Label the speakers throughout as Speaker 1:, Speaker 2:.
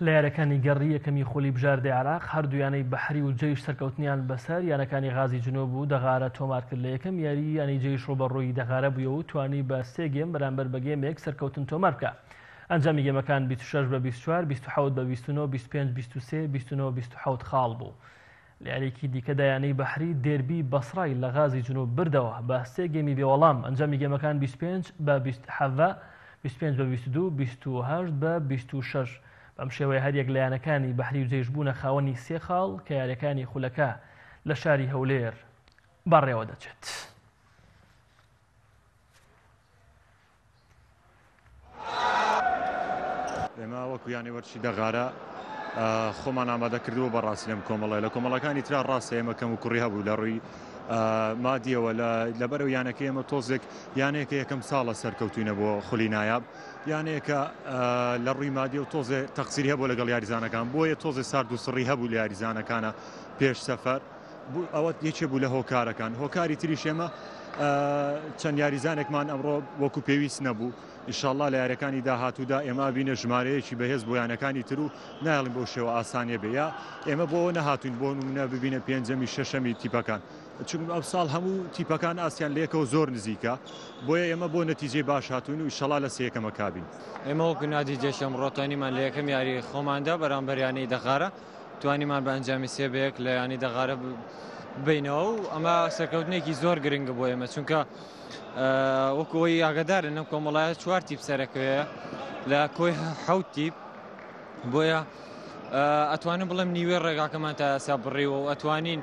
Speaker 1: لە یارییەکانی گەڕی یەکەمی خولی بژاردەی عێراق، هەردوویانەی بەحری و جەیش سەرکەوتنیان بەسەر یانەکانی غازی جنوب و دەغارە تۆمارکرد، لە یەکەم یاریی یانەی جەیش رووبەڕووی دەغارە بوویەوە و توانی بە سێ گێم بەرامبەر بە گێمێک سەرکەوتن تۆماربکا. ئەنجامی گێمەکان بیست و شەش بە بیست و چوار، بیست و حەوت بە بیست و نۆ، بیست و پێنج بیست و سێ، بیست و نۆ بیست و حەوت خاڵ بوو. لەیاریەکی دیکەدا یانەی بەحری دێربی بەسڕای لە غازی جنوب بردەوە بە سێ گێمی بێوەڵام ئەنجامی گێمەکان 25 بە 27 25 بە 22 28 بە 26 بەم شێوەیە هەریەک لە یانەکانی بەحری و جەیش بوونە خاوەنی سێ خاڵ کە یاریەکانی خولەکە لە شاری هەولێر بەڕێوە دەچێت.
Speaker 2: ئێمە وەکو یانەی وەرچی دەغارە خۆمان ئامادە کردووە بە ڕاستی لەم کۆمەڵی لە کۆمەڵەکانی تررا ڕاستە ئێمە کەم و کوڕی هەبوو لە ڕووی مادیەوە لەبەر و یانەکە ئێمە تۆزێک یانەیەکە یەکەم ساڵە سەرکەوتوینە بۆ خولی نایاب یانەیەکە لە ڕووی مادی و تۆزێ تەقسیری هەبوو لەگەڵ یاریزانەکان بۆیە تۆزێ سارد و سڕی هەبوو لە یاریزانەکانە پێش سەفەر بوو ئەوە یەکێ بوو لە هۆکارەکان هۆکاری تریش ئێمە چەند یاریزانێکمان ئەمڕۆ وەکو پێویست نەبوو ئیشاءله لە یارەکانی داهاتوودا ئێمە بینە ژمارەیەکی بەهێز بۆ یانەکانی تر و نایڵین بۆ شێوە ئاسانیە بێ یا ئێمە بۆ نەهاتوین بۆ منە ببینە پێنجەمی شەشەمی تیپەکان چون ئەم ساڵ هەموو تیپەکان ئاسیان لەکەەوە زۆر نزیکە بۆیە ئێمە بۆ نەتیجەی باش هاتوون و ئیشەڵا لە سەکەمە کابین ئێمە وەکو نادی
Speaker 3: جێشم ڕۆتانیمان لە یەکەم یاری خۆماندا بەرامبەریانەی دەخارە توانیمان بە ئەنجامی سێ بە یەک لە یانەی دەغارە ببینەوە و ئەمە سەرکەوتنێکی زۆر گرنگە بۆ ئێمە چونکە وەکەوەی ئاگدارن لەم کۆمەڵایە چوار تیپ سەرەکەوەیە لە کۆی حوت تیپ بۆیە ئەتوانم بڵم نیوێ ڕێگاکەمان تا ئەسا بڕیوە و ئەتوانین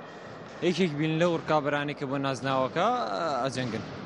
Speaker 3: یەکێک بین لە ڕکابرانی کە بۆ نازناوەکە ئەجەنگن.